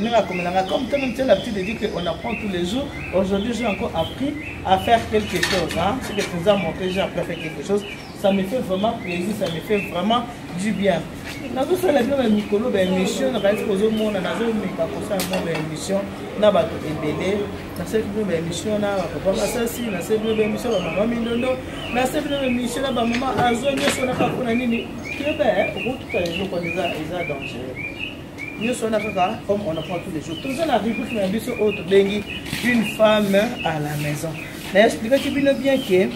ndenge akomela nga comme toi même tu as l'habitude de dire que on apprend tous les jours aujourd'hui j'ai encore appris à faire quelque chose hein ce que tu nous as montré j'ai appris à faire quelque chose ça me fait vraiment plaisir ça me fait vraiment du bien nazosala bino ba mikolo ba émission nakanisi kozomona nazomeka kosala mwa ba émission na bato ebele nasali bino ba émission na bapapa masasi nasali bino ba émission bamama mindondo nasali bino ba émission na bamama azo nyonso na kakuna nini toyeba okotuta eloko eza dangereux nyoso wana kaka comme on apprend tous les jours toza na rubrique na biso oyo tobengi une femme à la maison na explikaki bino bien ke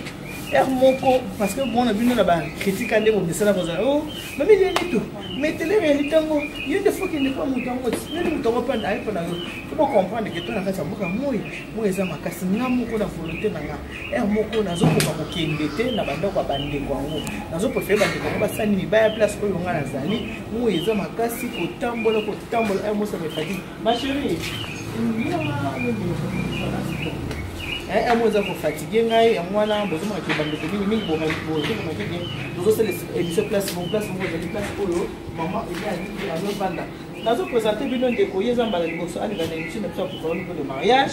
heure moko parce que mona bino na bacritique ande bobesana kozala o oh, mami leli to metelere ya litango yo nde foki nde mpo moto yango nini moto yango mpe ayepo na yo to bocomprendre ke to na kati ya mboka moi moi eza makasi nga moko na volonté na nga heure moko nazokoka kokende te na bandako ya bandeko yango nazoprefere bandeko yango basali mibaya place oyo ngai nazali moi eza makasi kotambola kotambola heure mosa mefadi machérie yango eza kofatigue ngai yango wana bozomonake bandeko mingi mingi bozomonake bien tozosala émission place mo place moko ezali place oyo mama ezali azovanda nazopresente bino ndeko ye eza mbala liboso aleka na émission na biso ya programme de mariage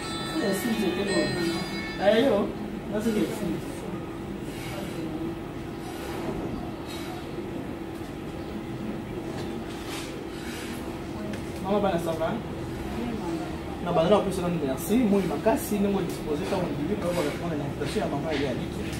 Mama bana ça va? na banda na kopesa nanu merci moi makasi ndenge odispoze ntango ndimi mpe bakolakona na invitation ya mama ya liki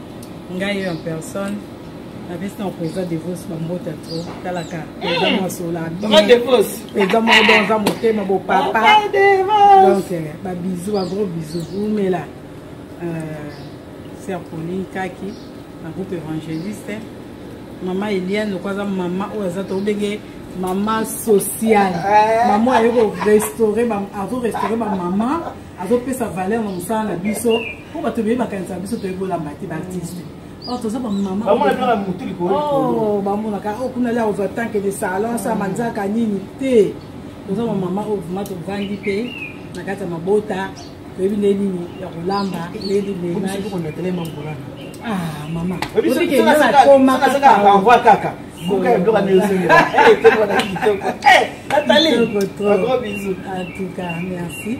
ngai yo en personne napesi na président devos bambota to talaka eza mwasola eza moko don aza motema bopapa donc euh, babisou bagros bisou umela euh, ser pauline kaki na groupe évangéliste mama eliane loko aza mama oyo aza tobenge mama sociale eh. mama aye korestaure azorestaure bamama azopesa valeur na mosala na biso po bato ebele bakanisa biso toyebi olamba te baartiste oh, toza bamamabamonaka oh, oh, kuna lia ozwa tanke de salon sa manzaka nini te toza bamama oyo vrima tovandi mpe na kati ya mabota toyebi nde nini ya kolamba leli mama obikenakoma kaka buka ya biloko nyonso etoko na kitoko natali gros bisous en tout cas merci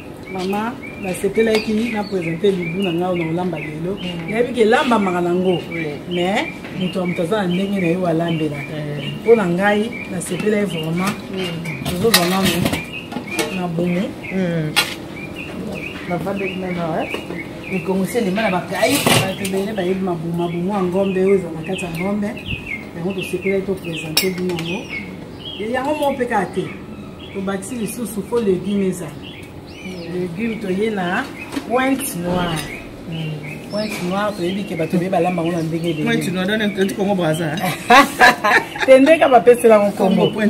mama nasepelaki na présente libu na ngai na olamba lelo mm. nayebi ke elambamaka nango mais moto ya moto aza na ndenge na ye oyo alambela mpo na ngai nasepelaki vraiment tozozwa mm. nanu na bomo navandaki mm. nano mikongo si elema na bakai bato ebele bayebi mabumabumu ya ngombe oyo eza na kati ya ngombe yango tosepelaki topresente bino yango yango moko mpe kaka te tobakisi lisusu mpo legume ezala legume toye na pointe noire hmm. pointe noire toyebi ke bato beye balamba yango na ndenge legumekongo braza te ndenge bapesela yango nkombo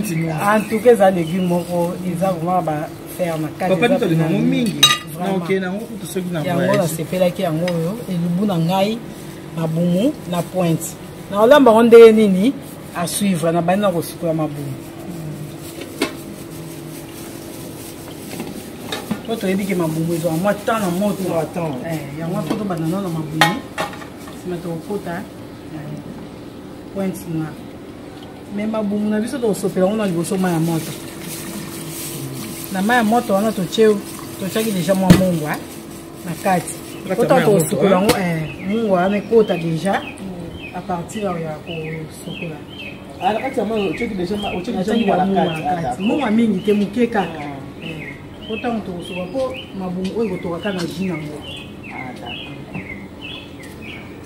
antuka eza legume moko eza vraimen bafaire na katitolinango mingi yango nasepelaki yango oyo elubu na ngai na bumu na pointe nakolamba yango ndenge nini à suivre na banda kosukola mabumu po toyebi ke mabumu ezwaka mwa temps na moto eh, yango po tobanda nao na mabumu nsima tokokota eh, pointe na me mabumu na biso tokosopela yango na liboso mai ya moto na mai ya moto wana totie totiaki deja mwa mongwa eh. na kati kota kosukola yango mungu wana ekota deja mm. à partir ya kosukola mungu ya mingi te moke kaka po ntango tokosukola mpo mabungu oyo ekotoka kaka na ji nango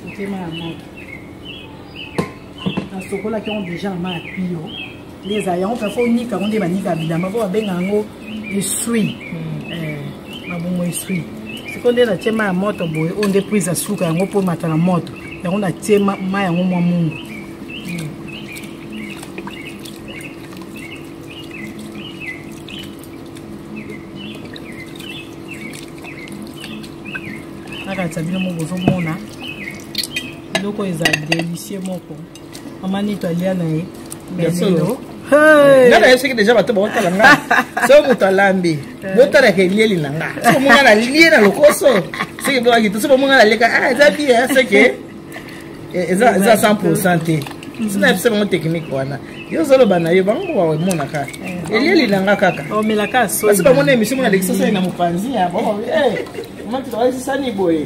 motema ya moto nasokolaki yango deja na ma ya pio nde ezala yango mpe fo onika yango nde banika bilamba mpo babenga yango esui hmm. eh, mabongo esui sikoyo nde natie ma ya moto boye oyo nde prise ya suka yango mpo mata na moto yango natie ma yango mwa mungu nakatisa bino mo bozomona biloko eza delicieux moko mama nito alia na ye lelo nga na ye soki deja bato bakotala nga so moto alambi eh. botalaka elieli na nga so monga na lie na lokoso soki bokaki to so bomonga na leka ah, eza bie eh, seke eh, eza 100 pourcent te sina yebisa bango technique wana yo ozoloba na yo bango baemonaka elieli na nga kaka basi bamona emission mona lekisa sani na mopanzi ya bo mati baesisani boye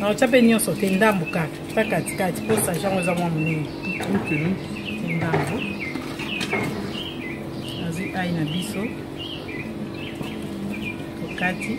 na otya mpe nyonso te ndambo kaka ta katikati mpo saje yango eza mwa monene ndambo nazwi ai na biso tokati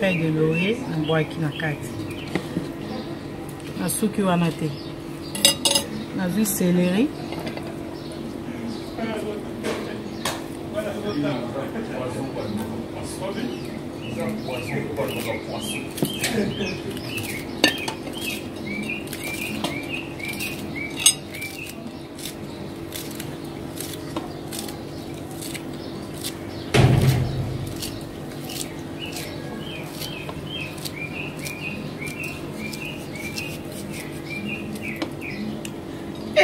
feuille de laurier nabwaki na kati nasuki wana te nazwi celery Thank you.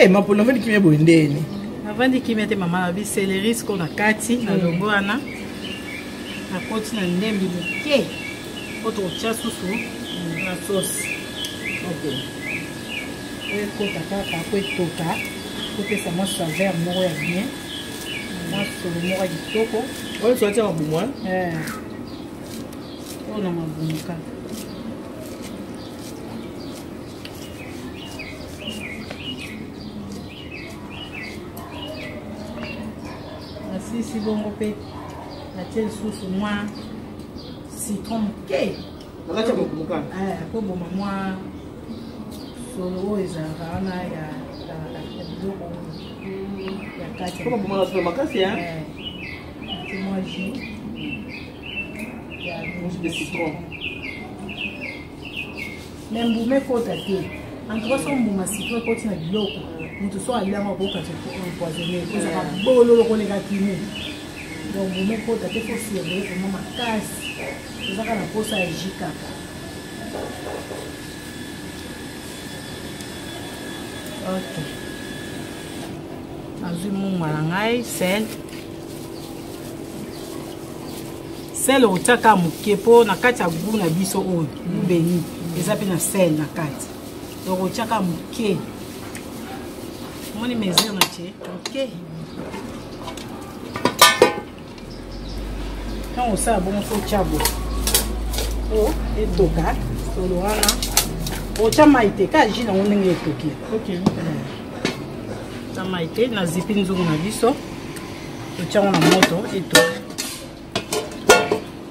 Eh, mapolo avandi kimia boye ndeni avandi kimia te mama abi seleri siko na kati na hmm. longo wana nakoti na ndembi moke po tokotya susu na sosi okay. oyo ekota kaka po etoka kopesa mwa saveur moko ya bien mwa solo moko ya kitoko oyo ezwa tia mabumu oyo eh. oh, na mabumu kaka nasisi bongo mpe natie lisusu mwa citron moke bakati ya mokumbuka eh, koboma mwa solo oyo ezalaka wana ya biloko ya kati kobomana solo makasi eh, mwa jus de citron me mbuma ekota te antuka so mbuma citron ekoti na biloko moto so aliango akokati empoisonne ekozaka bololo koleka kini donc mbuma ekota te fo surveille vraimen makasi Ezaka na posa ya jus kaka. Ok. Nazwi mungwa na ngai sel. Sel otiaka moke mpo na kati ya goût na biso oyo goût beni eza mpe na sel na kati. Donc otiaka moke. Omoni mesure na tie moke. Okay. ntango osala bongo so otya bo o oh, etoka solo wana otya mai te ka ji nango ndenge etoki na mai te na zipi nzungu na biso totyango na moto etoka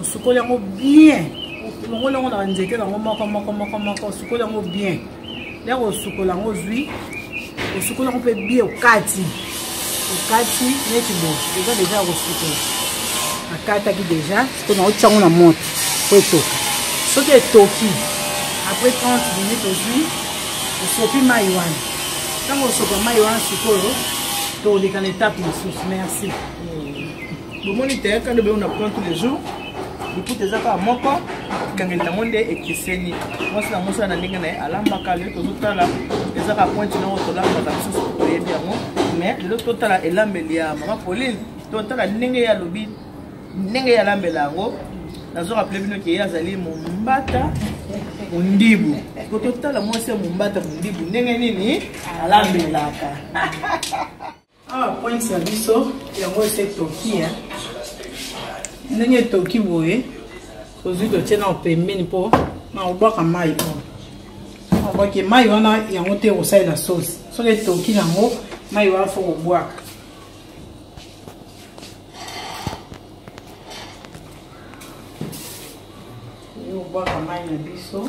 osukoli yango bien olongoli yango na banzete nango moko moko moko moko osukoli yango bien ndenge osukola yango ozwi osukoli yango mpe bien okati okati neti bo eza deja ya kosukola akataki deja siko na otya yango na moto mpo etoka soki etoki après 30 minute ozwi osopi mai wana ntango osopa mai wana sikoyo toleka na etape mosusu merci bomoni te kando beo na plan tous les jours lokuta eza kaka moko ekangeli yango nde ekeseni mwasi na mosala na ndenge na ye alambaka lelo tozotala eza kaka pointe noko tolambaka lisusu toyebi yango mais lelo totala elambeli ya mama pauline totala ndenge ye alobi ndenge ye alambela yango nazo rappele bino ke ye azali mombata mondibu po totala mwasi ya mombata mondibu ndenge nini alambelaka awa pointe na biso yango ese toki ya ndenge etoki boye tozwi totie na pembeni mpo na kobwaka mai oyo obwaki mai wana yango te kosalela sosi soki etoki nango mai wana fo kobwaka kobwaka mai na biso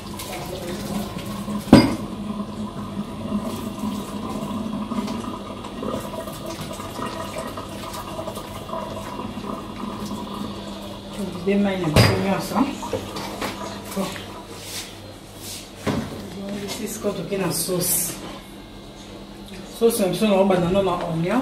de mai na biso nyonso ezongisi sikoyo toke na sauce sauce na biso naobanda no na oignon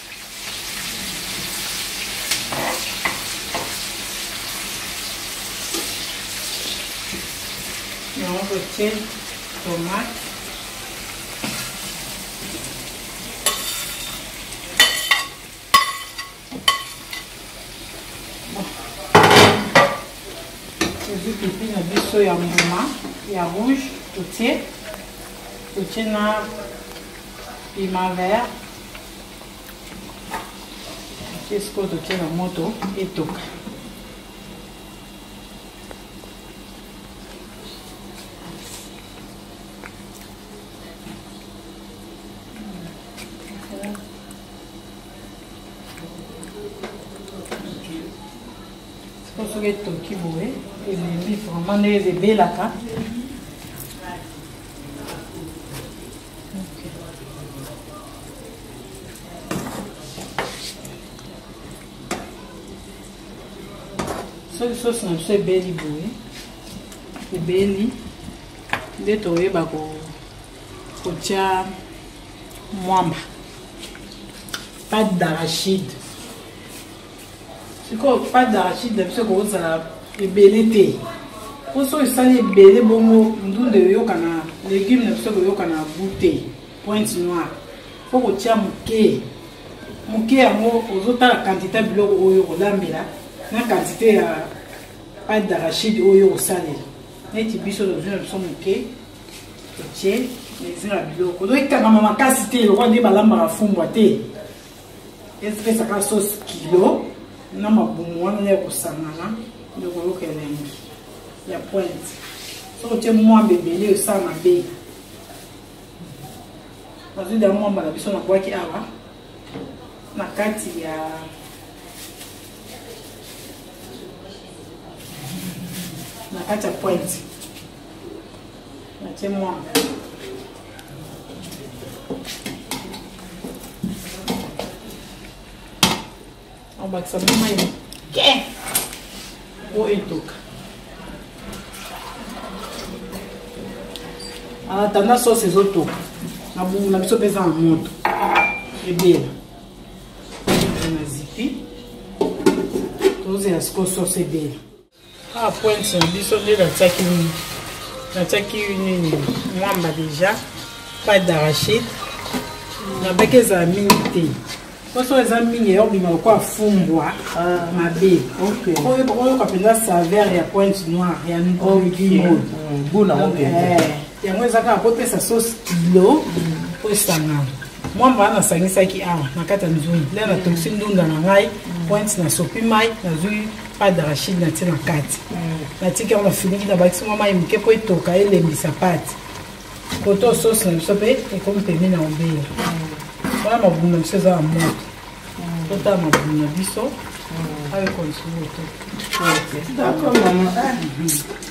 yango totie tomate tozwi pipi na biso ya mbuma ya rouge totie totie na piment vert mpe sikoyo totie na moto etoka soki etoki boye elembi vraiment nde ebelaka soki sosi na biso ebeli boye ebeli nde toyeba kotya mwamba pas d'arachide sikoyo pas d'arachide na biso ekozala ebele te mpo soki esali ebele bongo ndunda eyokana legume na biso ekoyokana goût te pointe noire mpo kotia moke moke yango ozotala kantite ya biloko oyo okolambela na kantite ya pate d'arachide oyo okosalela neti biso tozwi na biso moke otie mesure ya biloko ozoki kangama makasi te lokola nde balambaka fumbwa te epesaka sauce kilo na mabumu wana nde ekosangana nde okoyoka elengi ya pointe soki otie mwamba ebele osala mabe nazwi da mwamba na biso nabwaki awa na kati ya na kati ya pointe natie mwa abakisa mwa mai moke mpo etoka atanda sosi ezotoka na bungu na biso mpe eza na moto ebela na zipi tozela sikoyo sosi ebela Ah, pointe na biso nde natiaki nini natiaki nini mwamba deja pas d'arachide nabaki ezala mingi te poso eza mingi eyobima lokola fumbwa ah. mabe oyoka mpenza saveur ya pointe noire ya nkolimon mm, eh, yango eza kaka kopesa sauce kilo po esangana mwamba wana nasangisaki awa na kati ya nzungu nde natokisi ndunda na ngai pointe nasopi mai nazwi pas d'arachide natie na kati natiki yango nafiniki nabakisi mwa mai moke mpo etoka elembisa pate koto sosi na biso mpe ekomi pembe na obele wana mabumu na biso eza na moto totala mabumu na biso ayo konsumoto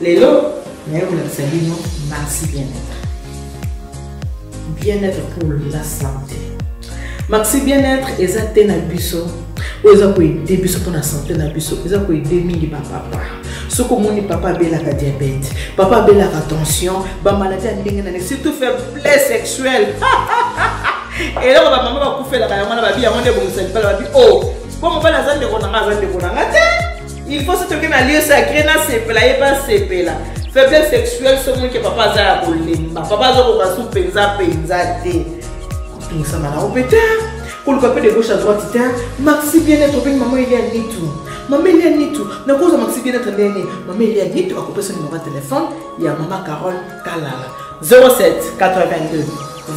lelo naye kolakisa bino maxi bien-être bien-être pour la santé maxi bien-être eza te na biso oyo eza koede biso mpona santé na biso eza koede mingi bapapa soki omoni papa abelaka diabete papa abelaka tension bamaladi ya ndenge na ndenge surtout faiblesse sexuelle eloko bamama bakufelaka yango na babi yango nde ebongisa libala babi o oh, mpo mobali aza ndeko na nga aza ndeko na nga te il faut soki oke na lieu sacré nasepela ye mpe asepela faiblesse sexuelle soki ke papa aza ya kolemba papa azokoka su mpenza mpenza te kotungisama na ope te koluka mpe de gauche à droite te maxi bien être obengi mama elia nitu mama elia nitu nakozwa maxi bien être ndenge nini mama elia nitu akopesa numero ya telefone ya mama carole kalala 07 82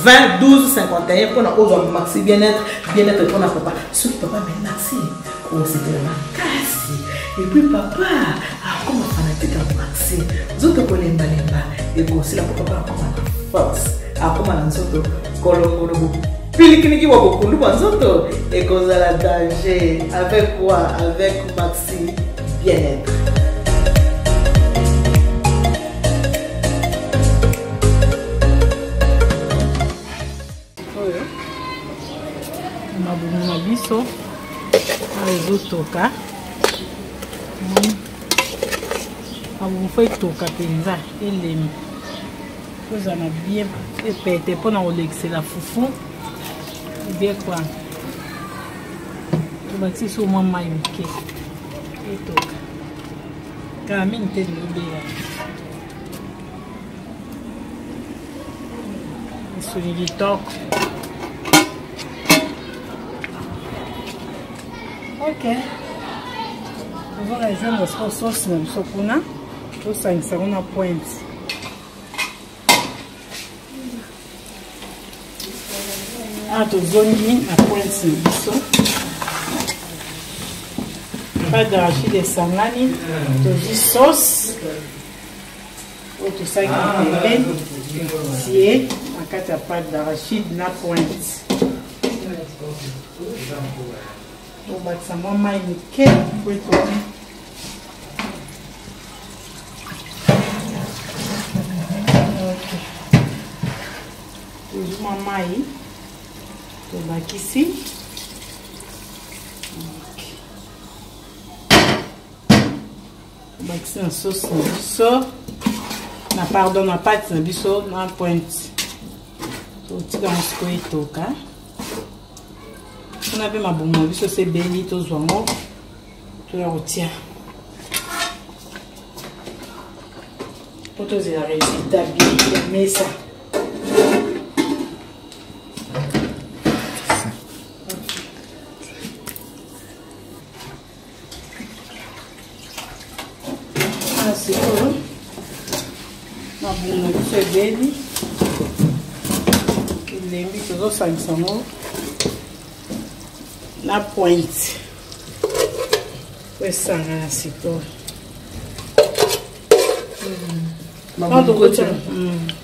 20 12 51 mpona ozwa maxi bien être bien être mpona papa soki papa me maxi kosepela makasi epuis papa akoma fanatique ya marse nzoto kolembalemba ekosila mpo papa akoma na force akoma na nzoto kolongolo bopilikiliki bwa bokundu bwa nzoto ekozala danger avec quoi avec maxi bien-être oyo mabumu na biso oyo ezotoka mabumu fo etoka mpenza elemi kozala na bien epete mpo na kolekisela fufu ebie kwa tobakisi so mwa mai moke etoka kala mingi te lilobela misuni kitoko ok ozora ezanga siko sauce na biso kuna tosangisa yango na pointe awa tozongi na pointe na biso pas d'arachide esangani tozwi sauce oyo tosaki pembe sie na kati ya pate d'arachide na pointe obakisa mwa mai moke po ekomi tozwi mwa mai tobakisi bakisi na sauce na biso na pardon na pate na biso na pointe totika yango sikoyo etoka kuna mpe mabumu na biso se beli tozwa yango toya kotia mpo tozela resultat bien ya mesa na sikoyo na bunga biso ebeli elembi tozosangisa yango na pointe po esanga na sikoyo mm.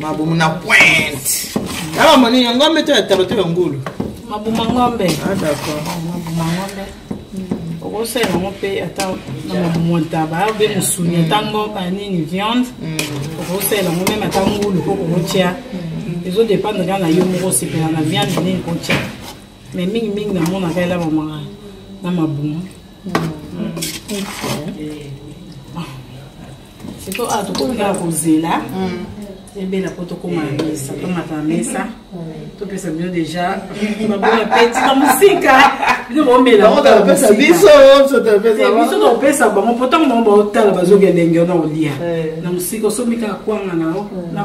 mabumu na pointe awa moni ya ngombe to ya taba to ya ngulu mabuma ngombe ah d'accord mabuma ngombe okosala yango mpe ata na mabumu ntaba obe mosuni ata ngombe nini viande okosala yango meme ata ngulu po kokotya ezodependre kaka na yo moko osepela na viande nini kotya mais mingimingi namonaka elamamaka na mabumu mm. mm. okay. siko awa ah, tokomi kaka kozela mm. ebela mpo tokoma na mesa tomata na mesa topesa bino deja babona peti na mosika bino baomelabiso topesa bango mpo ntango bango baotala bazoki elenge na olia eh. na mosika osomi kaka kwanga na yo na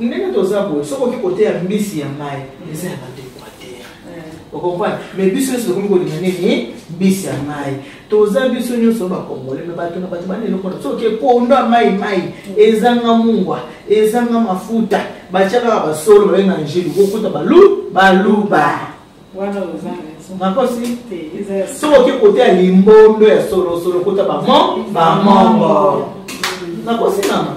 ndenge toza boye soki oki koteya mbisi ya mai eza ya bato equateur okomprane mais biso nyonso tokomi kolinga nini mbisi ya mai toza biso nyonso bakongole me bato na bato bana eloko na soki ekondo ya mai mai ezanga mungwa ezanga mafuta batya kaka basolo babe na angelu kokuta balu baluba nakosi soki oki koteya limbondo ya solosolo kuta bamon bamongo nakosi nana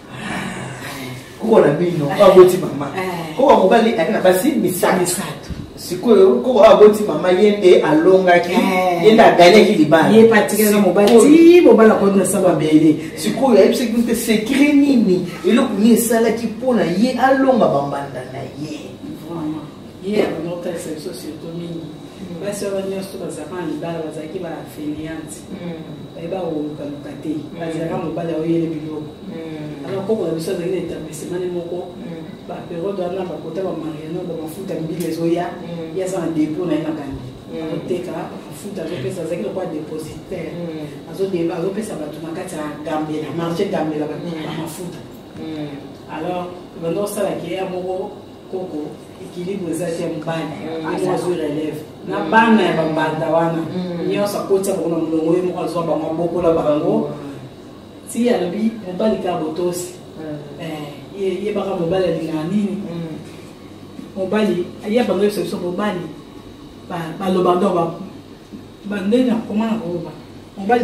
koko na bino oyo aboti mama koko ya mobali ayaki na basi misato sikoyo koko oyo aboti mama ye nde alongaki ye nde aganyaki libalabele sikoyo ayebisaki mpe sekre nini eloko nini esalaki mpo na ye alonga bambanda na ye ye abanda kotalisa biso surtout mingi mm. basi wana nyonso bazalaka na libala bazalaki ba feniante mm. bayeba kolukaluka te mm. bazalaka mobali aoyele biloko alors koko na biso azalaki na etablissemane moko baperiode wana bakota bamariano bamafuta mbili ezoya ye aza na depo na ye na kandi azoteka mafuta azopesa azalaki lokola depositaire azopesa bato na kati ya gambela marché gambela bamafuta alors banda osalaki ya moko koko ekilibre eza te mobali yango azwi relève na bana ya bambanda wana nyonso akotisa bango na molongo ye moko azwa bango abokola bango ti alobi mobali kaka botosi yebaka mobali alingaka nini mobali ye bando yebisa biso mobali baloba ndo bandeni nakoma na koloba mobali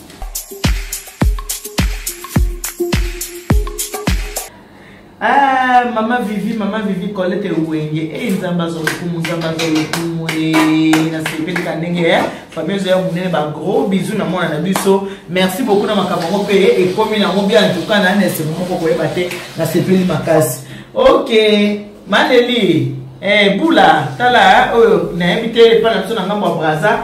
Ah, mama vivi mama vivi colete wenge e eh, nzambe aza lokumu nzambe aza lokumu eh, nasepelika ndenge eh. famille ezoya monene bagros bisou na mwana na biso merci beaucoup na makambo yango mpe ekomi nango bia ntuka na na esengo moko koyeba te nasepeli makasi ok maleli eh, bula tala oyo nayebi te epai na biso na ngambo ya braza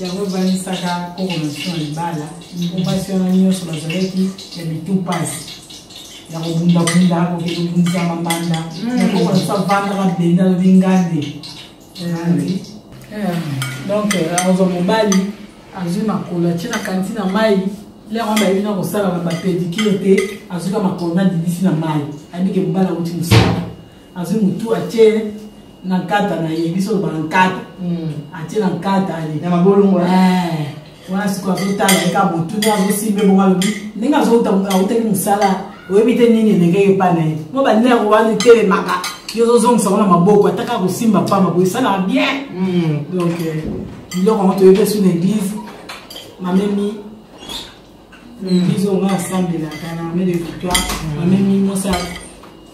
yango ebanisaka kokomation ya libala mpo mpasi wana nyonso bazalaki ya mitu mpasi ya kobundabunda kokende kobundisa mabanda nakoko naso avandaka benda lobi ngande donc akozwa mobali azwi makolo atye na kanti na mai lere wana bayebi na kosala na bapedikire te azwika makolo na dibisi na mai ayebike mobali auti mosala azwi motu atie na nkata na ye biso olobaka nkata hmm. atie na nkata ye na mabolongo eh, wana sikoyo azotala ye ka motu nde azosimbe bongo alobi ndenge azoutaki mosala oyebi te nini elenge ye epai na ye mo banere wana etelemaka yo ozozongisa ngo na maboko ata kaka kosimba mpamba boye esalaka bien hmm. donc euh, biloko yango toyebi esu na église mamemi hmm. biso nga asambelaka na mame de victoire mamemi mosa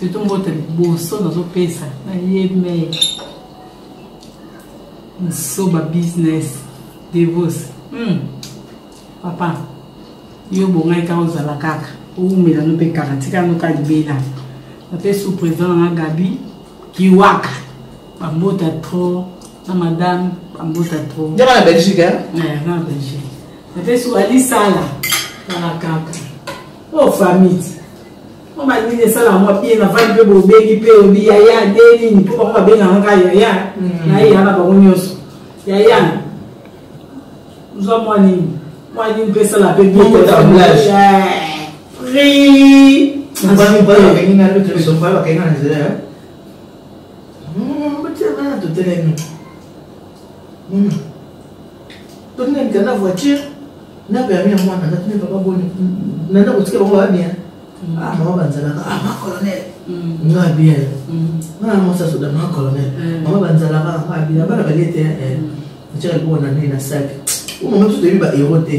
surtout mbote liboso nazopesa na ye mai nsoba business devos hmm. papa yo bongai kaka ozala kaka owumela no mpe kaka tikano ka libela nape sous président na gabi kiwaka bambota trop na madame bambota trop nde na belgique eh? eh, na belgique nape sous alisala kaka kaka o oh, famille Mama nini esala mwa pie na vandi mpe bobengi mpe obi yaya nde nini mpo bango babengaka ngai yaya mm. na ye yana bango nyonso yaya ozwa mwa nini mwa nini mpe esala mpe biotablage prix totelemi Tony na mikanda voiture na permis ya mwana na tuni papa boni na ndako tika bango ba bien mm. ah mama banzalaka ah ma colonel mm. nga bien mm. nga na mosa soda ma colonel mama banzalaka nga bien bana balie te eh tika ko na nini na sac o mama tu te ba héros te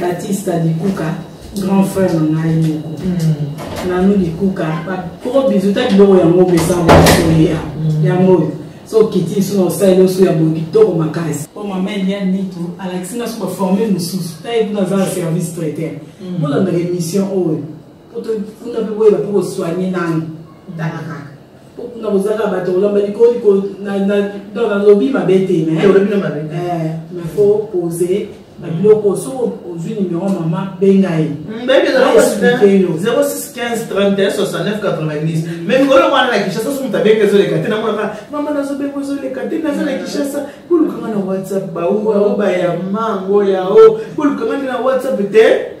batista likuka grand frère na ngai moko hmm. nanu likuka bakoko bizuta biloko yango obesanga okoya hmm. yango oyo so okiti lisusu na osaleli osu ya boye kitoko makasi po mama eliane nitu alakisi nga so baforme mosusu taye kuna aza na service traiteur hmm. bolandaka émission oyo po tokunda mpe boyeba mpe kosoigne nanu tala kaka na kozala kaka bato kolamba likolo nalobi mabe te mais faut poser babiloko soki ozwi nimero mama benga ye me mikolo wana na kinshasa so moto abenga ezoleka te namonaka mama nazobenga ezoleka te naza na kinshasa kolukanga na whatsapp baobayango yao kolukanga nde na whatsapp te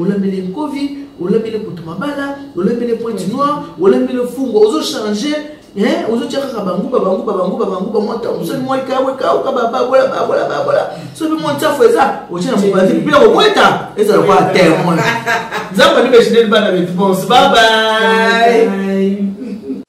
olambeli nkovi olambeli kutu mabala olambeli pointe noire olambeli fungo ozo change ozotya kaka banguba banguba banguba banguba mwatamusoni mwaikawe kauka bababola babola babola so mpe mwa nsafu eza otya na mobanzi mpe kobweta ezala kwa temoin nzambe nde bejineli bana betu bonse babai